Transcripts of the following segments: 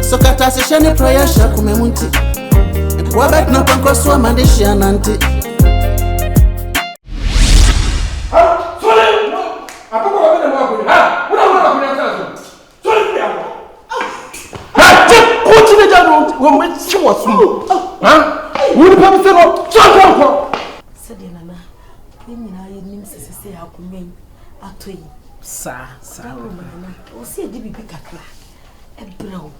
Nso kata se hyɛ ne prayer hyɛ akoma mu nti. Nkoa bɛtena pɔnkɔ so ama de hyia nante. Wọ́n mi ti wọ̀ sùn. Wọ́n ní pẹ́ẹ́mísẹ́ náà tí a kọ́ ọ̀kọ́. sɛdeɛ nana yɛn nyinaa yɛnim sɛ sɛ sɛ yɛakoma yi atɔ yi. Saa, saa. Ɛwɔ mu nana, ɛwɔ sɛ yɛde biribi kakra ɛbrɛ wo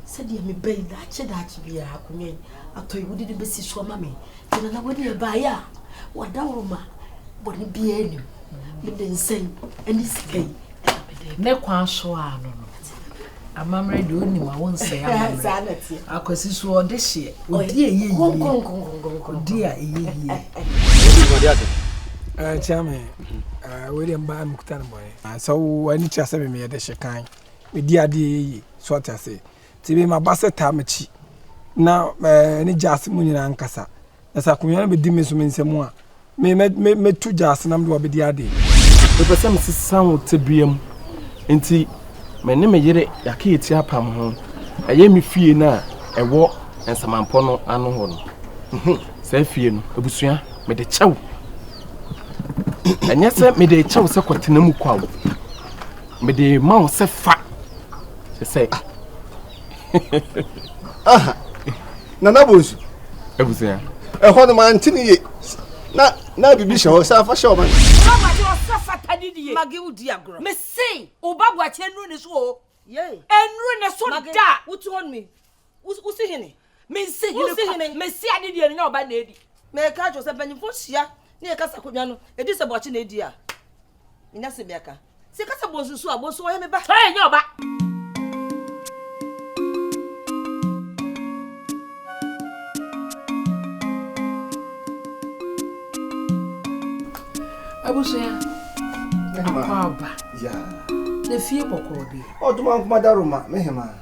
sɛdeɛ meba yi daakye daakye biara akonnwa yi atɔ yi wode no bɛsi so ama me nti nana wode ɛbaeɛ a wadaworo ma bɔne biara nim mede nsɛn ne sika yi ne kwan so a no no Amammerɛ deɛ onim a wonsɛe amammerɛ. Akwasi so ɔde hyeɛ. Odi a ɛyɛ yie. Odi a ɛyɛ yie. Nkyɛn me wei deɛ mbaa mekuta no bɔne. Sɛ wo ani kyerɛ sɛ memeyɛ de hye kan medi adeɛ ɛyɛ yie so ɔte ase nti mema ba sɛ taa makyi na ne gya ase mu nyinaa nkasa Na sɛ akonnwa no bɛdi me nso me nsam a, me mɛ mɛ mɛtu gya ase na mede wabɛdi adeɛ. Mepɛ sɛ mesesa wo tebea mu. Enti me ne me yere yɛaka yɛ ti apam ho. Ɛyɛ me fie no a ɛwɔ nsamampɔ no ano hɔ no. Mhm, saa fie no, abusua, mede kyɛ wo. Ɛnyɛ sɛ mede kyɛ wo sɛ kɔtena mu kwa wo. Mede ma wo sɛ fa. Sɛ sɛ. aha nana bonsu abusua ɛhɔ no mante ne ye na na biribi hyɛ hɔ sɛ afa hyɛ ɔma mese woba boakyerɛ nnuru ne so o ɛnuru ne so da wosi hene Mensi hene Wonsi kwa. hene. Mesi ade deɛ no nyɛ ɔba na edi. Meka kyerɛ wo sɛ mpanyimfoɔ hyia ne yɛn kasa akonnwa no, edi sɛ boakye na edi a, menya asɛm bi aka. Sɛ yɛka sɛ bonsu so a, bonsu ɔyɛ me ba. Ɔyɛ nyɛ ɔba. Abusua, Mehema. akwaaba Yeah. na fie bɔkɔɔ deɛ. Ɔtoma nkoma da Roma, mehema.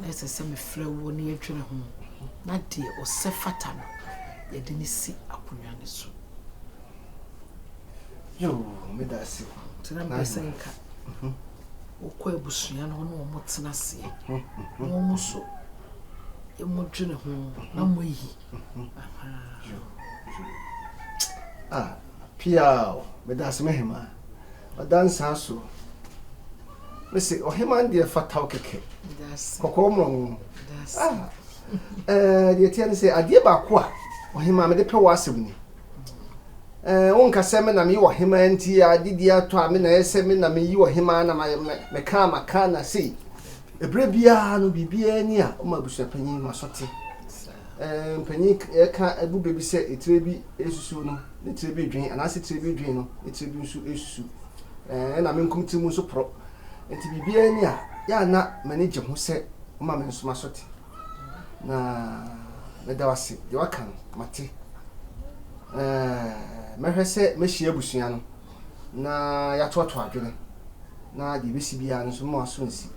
Na ɛsɛ sɛ mefrɛ woɔ na yɛdwene ho, na deɛ ɔsɛ fata no, yɛde no si akonnwa no so. Yoo, meda ase. Nti na mpɛ sɛ nka mhm. wokɔ abusua no hɔ na wɔn tena aseɛ mhm, mhm. na wɔn so wɔn dwene ho na wɔn ayi. Ah, pia o, meda ase mehema. Ɔdanse aso. Mese ɔheman deɛ fata wo kɛkɛ. Kɔkɔɔ ma wo. Ah, eh, deɛ teɛ ne sɛ adeɛ baako a ɔheman mede pɛ wɔ asɛm ni. Eh, wonka sɛ me na meyɛ ɔheman nti ade di atɔ a me na ɛyɛ sɛ me na meyi ɔheman na meka a maka na sei. Ɛberɛ biara no biribiara ni a woma abusuapanyin ma so te. Eh, mpanyin ɛka agu baabi sɛ etire bi ɛsusuo no. ne tiri bi dwen, anaase tiri bi dwen no, ne tiri bi nso susu, ɛna me nkom tiri mu nso poro. Enti biribiara nni a, yɛ a na m'ani gye ho sɛ woma me nso m'aso te. Na meda wo ase, deɛ woaka no, mate. Ɛɛ, mɛhwɛ sɛ mɛhyia abusua no. na yɛatoato adwene, na deɛ ɛbɛsi biara no nso mo aso nsi.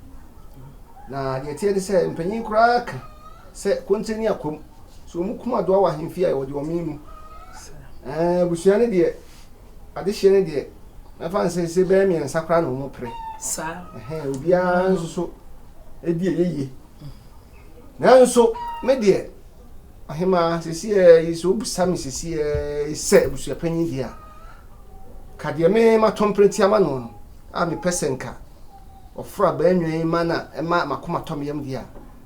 Na deɛ ɛteɛ ne sɛ, mpanyin koraa ka sɛ konte ne akwam, so wɔn kum adoa wɔ ahemfie a wɔde wɔmee mu. Ɛɛ, abusua no deɛ, adehyeɛ no deɛ, mɛfa no sɛ ɛsɛ bɛyɛ mmiɛnsa koraa na wɔn pere. Ɛhɛ, obiara nso so ɛdi ɛyɛ yie. Nanso, me deɛ. Ahemaa, sesiɛɛ yi, sɛ wobisa me sesiɛɛ yi sɛ abusuapanyin deɛ a, ka deɛ me matɔ mprɛnti ama no no, a mepɛ sɛ nka ɔforo abaanwa yi ma na ɛma m'akoma tɔ me yam deɛ a,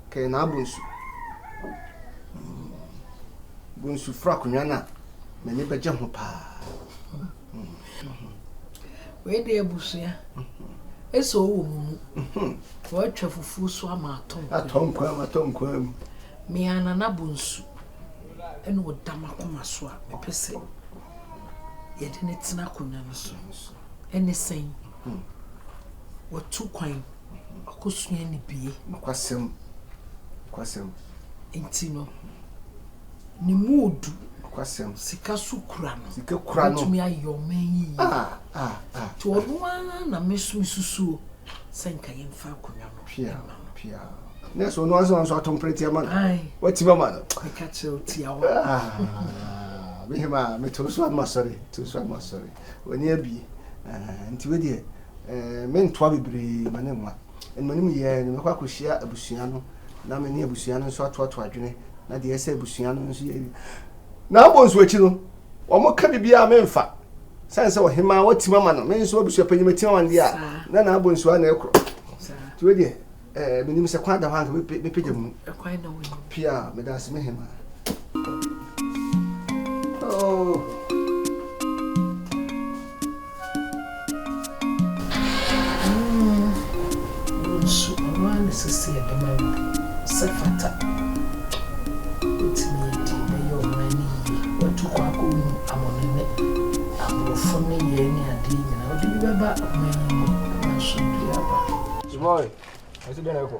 ka yɛ naa Bonsu. Bonsu foro akonnwa no a, m'ani bɛgye ho paa. Wei deɛ abusua, ɛsɛ ɔwɔ mo mu. Wɔatwa fufuo so ama atɔ nkwan. Atɔ nkwan mu, atɔ nkwan mu. Me ara Nana Bonsu na ɔda m'akoma so a mepɛ sɛ yɛde no tena akonnwa no so. Ɛne sɛn? Watu kwan, wakɔsua ne bie. Nokwasɛm, nokwasɛm. Nti no, ne muudu. Nokwasɛm. Sika so kura no. Sika kura no. Ɔbɛtumi ayɛ ɔman yi yie. Ah, ah, ah. Nti ɔno ara na me nso mesusuo sɛ nka yɛmfa akonnwa no. Pia na no pia. Na so no ansa ansa ato mpreti ama no. Wati mama no. Me ka kyerɛ o tia wo. Ah. Me hema me to so ama sorry. To so ama sorry. Wani abi. Eh nti we die. Eh me ntoa bebre ma ne nwa. En mani mu ye no me kwa kohyia abusua no na me ne abusua no nso ato ato adwene na de ɛsɛ abusua no nso ye Na abɔ nso akyi no, wɔka biribiara memfa. Sane sɛ ɔhemaa watim ama no, me nso abusuapanyin matim ama no deɛ a, na na abɔ nsuo a na ɛkorɔ. Nti wei deɛ, eh, menim sɛ kwan da hɔ anka mepagya mu. Pia, meda ase me hemaa. Oh. Wo nso ɔno ara na ɛsɛ sɛ yɛde ma no sɛ fata. Wobɛtumi adi na ɛyɛ ɔman no yie. Woatu kɔ akɔhunu amane ne aborɔfo nneyɛɛ ne adeɛ nyinaa. Wode bi bɛba ɔman yi mu, nanso biribiara aba. Suboy, ɛso dɛn na ɛrekɔ?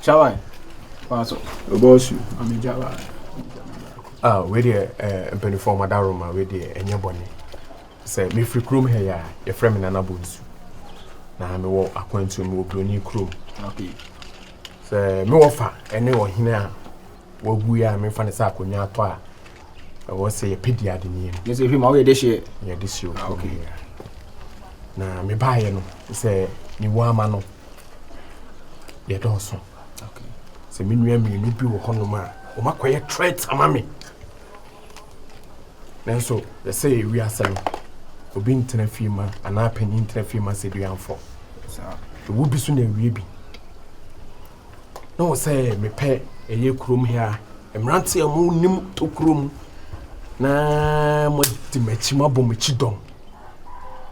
Chawan, pass up. Obosu, I'm in Java. Ah, wei deɛ eh, mpanimfoɔ ɔmo adaro ma wei deɛ ɛnyɛ bɔne sɛ mefiri kurom ha yi a yɛfrɛ me nana bonsu na mewɔ akwantuo mewɔ buroni kurom sɛ mewɔ fa ɛne ɔhene a Wabue a mefa no sɛ akonnwa atɔ a ɛwɔ sɛ yɛpɛ di ade nie no. Yɛsɛ hwɛ ma woyɛ de hyeɛ. Yɛ de hyeɛ ah, okay. Na mebaeɛ no sɛ mewɔ ama no yɛdɔɔso. Okay. Sɛ me nua mmienu bi wɔ hɔnom a wɔn akɔyɛ threat ama me. Nanso yɛsɛ yɛ wiase no obi ntena fie ma anaa panyin ntena fie ma sɛ duanfo. Ewu bi so na ewie bi. na wɔ sɛ mepɛ ɛyɛ kurom ha mmeranteɛ a monim tokuro mu na moadi m'akyi moabɔ m'akyi dɔm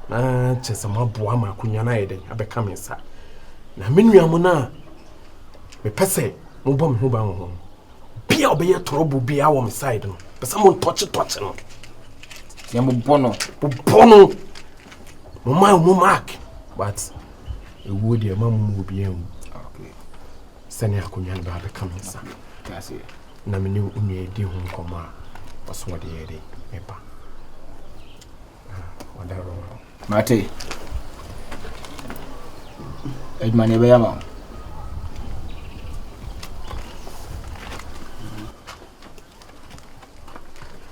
na kyɛ sɛ moaboa ma akonnwa no ayɛ dɛn abɛka me nsa na me nua mo no a mepɛ sɛ mobɔ me ho ban wɔ ho no bi a ɔbɛyɛ tɔrɔbo bia wɔ me side no pɛ sɛ montɔkyetɔkye no na mobɔ no mobɔ no moma mo mark but ɛwuo deɛ ma mo mu obiara nwu sɛnea akonnwa no baa bɛka me nsa na me ne wo nua di ho nkɔmmɔ a ɔso ɔde yɛ de meba ɔdaro mate adwuma ne ɛbɛyɛ ma wo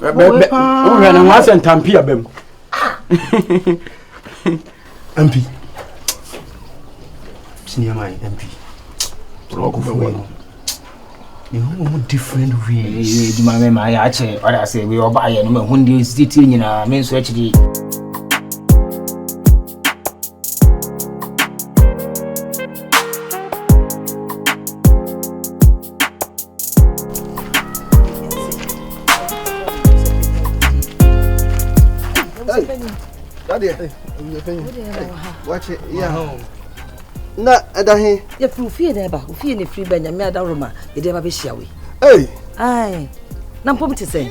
bɛ wohwɛ no ho asɛ ntampi abam mpi siniama mpi ɔkɔfoɔ no mehu different ways adwuma me ma yɛ akyɛ ɔde asɛ wei ɔbaayɛ no mahu deɛ ɔsititiri nyinaa me nso akyiri na ɛda he yɛfiri ofie na ɛba ofie na ɛfiri ba nyame ada roma mede ɛba bɛhyia wei na mpom te sɛ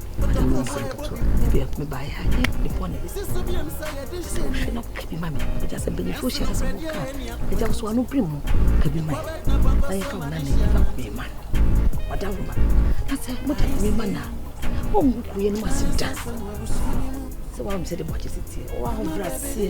Awurade me nsa nketewa bia me ba ya ye me bɔne wohwɛ na woka bi ma me ɛgya sɛ mpanyinfoɔ hyia na sɛ woka ɛgya wo so ano bere mu ka bi ma na yɛfa wo nane yɛfa wo mema no ɔda wo ma na sɛ moda wo mema no a ɔngu kueɛ no mu ase da sɛ woawom sɛ de bɔkye sɛ tie ɔwɔ ahobrɛ aseɛ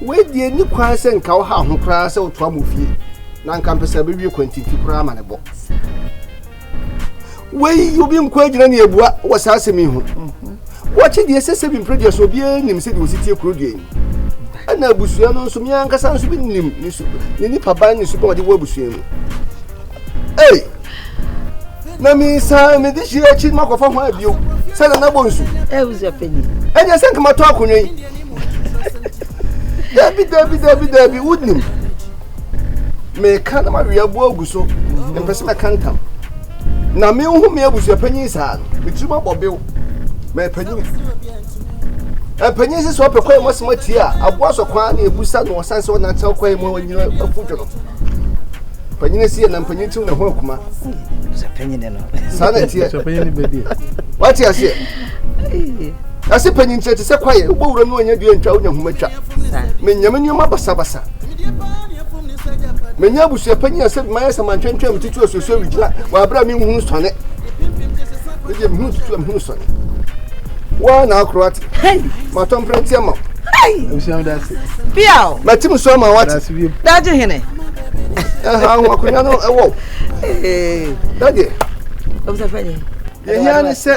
Wei deɛ nni kwan sɛ nka wohaw ho koraa sɛ wotoa mo fie na nka mpɛ sɛ bɛwie kwantinti koraa ma ne bɔ. Wei obi nko agyina ne abua wɔ saa asɛm yi ho. Wɔkye deɛ ɛsɛ sɛ bi mpere deɛ so obiara nim sɛdeɛ wɔsi tie kuro deɛ yi. Ɛna abusua no nso, me ankasa nso bi nim ne nipa ban ne su bɛn ɔde wɔ abusua mu. Ei! Na mi san mi de hyia akyi ma kɔfa ho abio. Sɛ na nabɔ nsu. Eh, uzo penny. Ɛnyɛ sɛ nkama tɔ akonnwa yi. Dabi dabi dabi dabi wonim. Meka na mawe abo agu so. Mpɛ sɛ mɛka ntam. Na me ho me abusua panyin saa no. Metiri ma bɔ bew. Mɛ panyin. Mpanyin sisi ɔpɛ kwan mu asɛm atie a aboa sɔ kwan na ebusa na ɔsan sɛ ɔnantew kwan mu a ɔnyina afu dwono. Panyin si na panyin tiw na ho akuma. Sɛ panyin ne no. Saa na ɛteɛ. Sɛ panyin ne bɛdi. Wate aseɛ. Ase panyin kyerɛ te sɛ kwaeɛ wobɔ wura mu anya dua ntwa wonya homa twa. Menya me nneɛma basabasa. Menya abusua panyin a sɛ mayɛ sɛ mantwentwɛn metete asuasua wigyina wɔ aberɛ a menhunu sɔne. Medeɛ mehunu tutu a mehunu sɔne. Woa na akoro ate. Matɔ mprɛnteɛ ma wo. Biaw. Mati mu so ama wate. Daagye hene. ɛhaw akonnwa no ɛwɔ dadeɛ yɛhia ne sɛ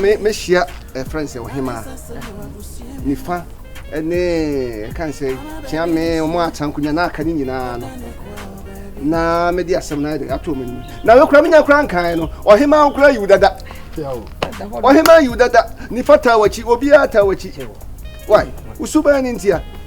mɛhyia ɛfrɛ n sɛ ɔhemaa nifa ne ɛka n sɛ kyea me ɔmo atra nkonnwa na aka ne nyinaa no na mede asɛm no ayɛdɛ ato m'anim na mekora menya kora nkae no ɔhemaa nkora yiw dada ɔhemaa yiw dada nifa taa wakyi obiara taa wakyi wai wosuban no ntia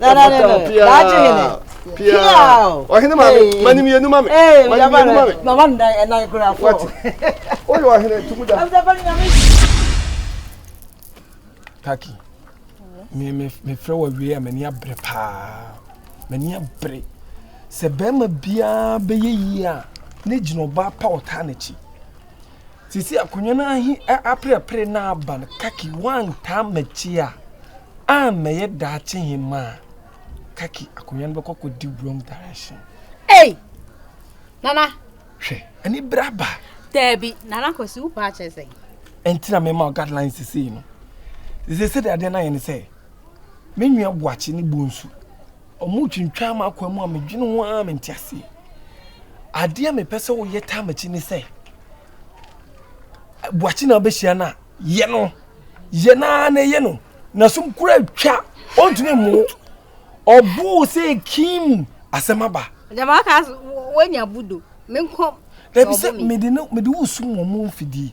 na na na daakye hene pia ɔhene ma me mani mmienu ma me mani mmienu ma me mama nnan ɛnan kura fɔ wati oyɛ ɔhene tumu da kaki me me me frɛ wɔ wie a m'ani abere paa m'ani abere sɛ bɛrima biara bɛyɛ yie a ne gyina ɔbaa pa ɔtaa n'akyi Sisi akonnwa no ahi aperepere na aba no kaki woantaa m'akyi a ammɛyɛ daakye hemma a kaki akonnwa no bɛkɔ kɔdi wrong direction. Ei! Nana! Hwɛ, ani bere aba. Daabi, Nana Kwasi, wo paa kyerɛ sɛn? Ɛnti na mema wo guidelines sesei no. Sesei sɛdeɛ adeɛ no ayɛ ne sɛ, me nua Boakye ne Bonsu Wɔretwintwan m'akwaa mu a medwene ho ara mente aseɛ. Adeɛ a mepɛ sɛ woyɛ taa m'akyi ne sɛ buakye na wobɛhyia no a yɛ no yɛ no ara na ɛyɛ no na som kura twa ɔntumi mmo ɔboo sɛ kim asɛm aba. Jama ka wɔanya budo menkɔ. Dabi sɛ mede no mede wo sum wɔn mfidie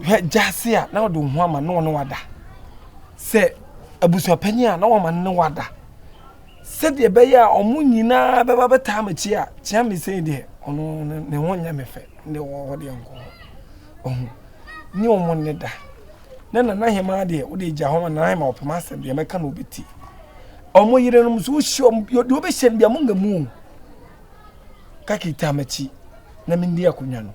hwɛ gyase a na ɔde wo ho ama na ɔne wada sɛ abusuapanyin a na wɔma ne wada sɛdeɛ ɛbɛyɛ a wɔn nyinaa bɛba bɛtaa m'akyi a kyea me sɛn deɛ ɔno ne ho nyɛ me fɛ ne wɔ hɔ deɛ nkɔ hɔ ɔho ne wɔn ne da na nana hema deɛ wode gya hɔ ma nana hema ɔpem asɛm deɛ mɛka na ɔbɛti wɔn yerenom nso wohyɛ wɔn deɛ wɔbɛhyɛ no deɛ mo nga mu kakita m'akyi na mendi akonnwa no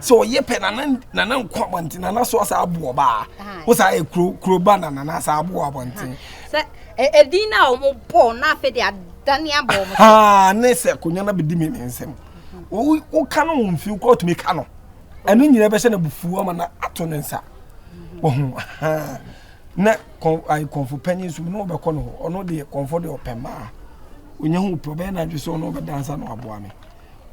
sɛ ɔyɛ pɛ nana nana nko abɔnten nana so asa abo ɔba wosa yɛ kuro kuro ba na nana asa abo abɔnten. sɛ edin na wɔn bɔ na afei de adane abɔ wɔn. haa ne sɛ konya na bɛ di mi ne nsam o o ka no wɔn fi o kɔ tumi ka no ɛno nyinaa bɛhyɛ na bufu ama na ato ne nsa wɔn haa na kɔn ayi kɔnfo panyin so na ɔbɛkɔ no hɔ ɔno deɛ kɔnfo deɛ ɔpɛ mmaa onye ho pɛ ɔbɛyɛ na adwi so ɔno ɔbɛdansa na waboa mi.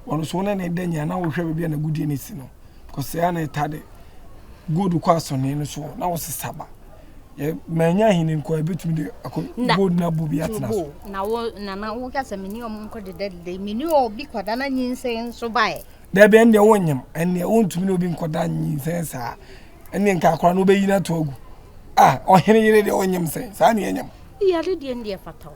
ɔno so na na ɛda nyina na wohwɛ baabi a na gudie no si no because ɛa na ɛta de gold kɔ asɔne no so na wɔsesa ba manya ahene nkɔ ɛbɛtumi de akɔ gold na bo bi atena so na wo na na wo kasa meni ɔmo nkɔ deda deda meni obi kɔda na nyinsɛn nso bae dabi ɛndeɛ wonyam ɛndeɛ wontumi ne obi nkɔda nyinsɛn saa ɛndeɛ nka akora no wobɛyi no ato agu a ɔhene yere deɛ ɔnyam sɛn saa ne ɛnyam yɛde deɛ ndeɛ fata wo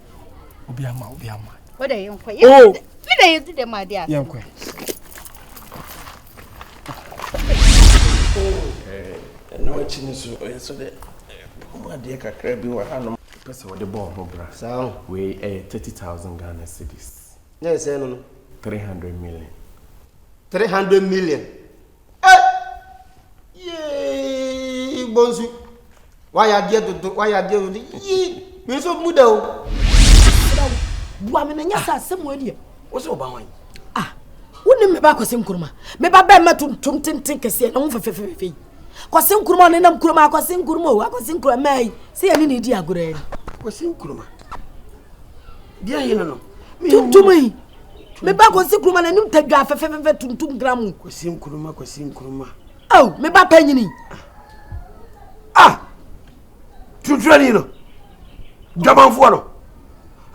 obi ama obi ama o de yɛn kɔ yɛn oh! mi na yɛ di dɛm adi ase yɛn kɔ ɛno akyi no so ɔyɛ so dɛ ɔmo adeɛ kakra bi wɔ hanom pɛ sɛ wɔde bɔɔ ho bra saa o wei ɛyɛ thirty thousand ghana cedis na ɛsɛ no no three hundred million three hundred million Yee bonsu. Wayɛ adeɛ dodo, wayɛ adeɛ dodo. Yii, me nso mu da o. Bua me na nyɛ sɛ asɛm wɔ deɛ. Wo sɛ ɔba hwan? Ah, wo ne me ba kɔsɛ nkuruma. Me ba bɛn ma tuntum tenten kɛseɛ na wo fɛfɛfɛfɛ yi. Kɔsɛ nkuruma ne nam kuruma akɔsɛ nkuruma o, akɔsɛ nkuruma mɛ yi. Sɛ yɛ ne ne di agorɔ yi. Kɔsɛ nkuruma. Deɛ hene no. Tuntum yi. me ba kwasi nkuruma n'anim tadwa fɛfɛfɛfɛ tuntum gra mu kwasi nkuruma kwasi nkuruma aw me ba panyini ah tunturani no dwamanfoɔ no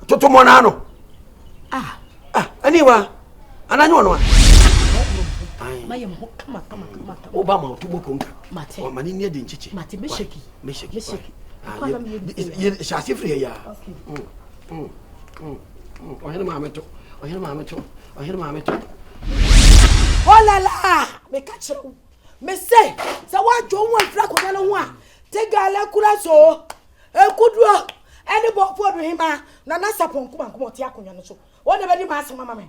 totomɔnaa no ah ah ɛne wa ananyɛ ɔno a mayɛ mo kama kama kama kama woba ma ɔto bɔ konka mate ɔma ne nneɛ de nkyekye mate meshaki meshaki hyɛ ase firi yɛ yaa Ɔhene maame to, ɔhene maame to, ɔhene maame to. Ɔlala, meka kyerɛ wo, mese sɛ woadwo ho afiri akonnwa no ho a, te gala kura so, ekuduro ɛne bɔɔfoɔ do hema na na sapɔn kumankuma ɔte akonnwa no so, wɔn na bɛdi m'asɛm ama me.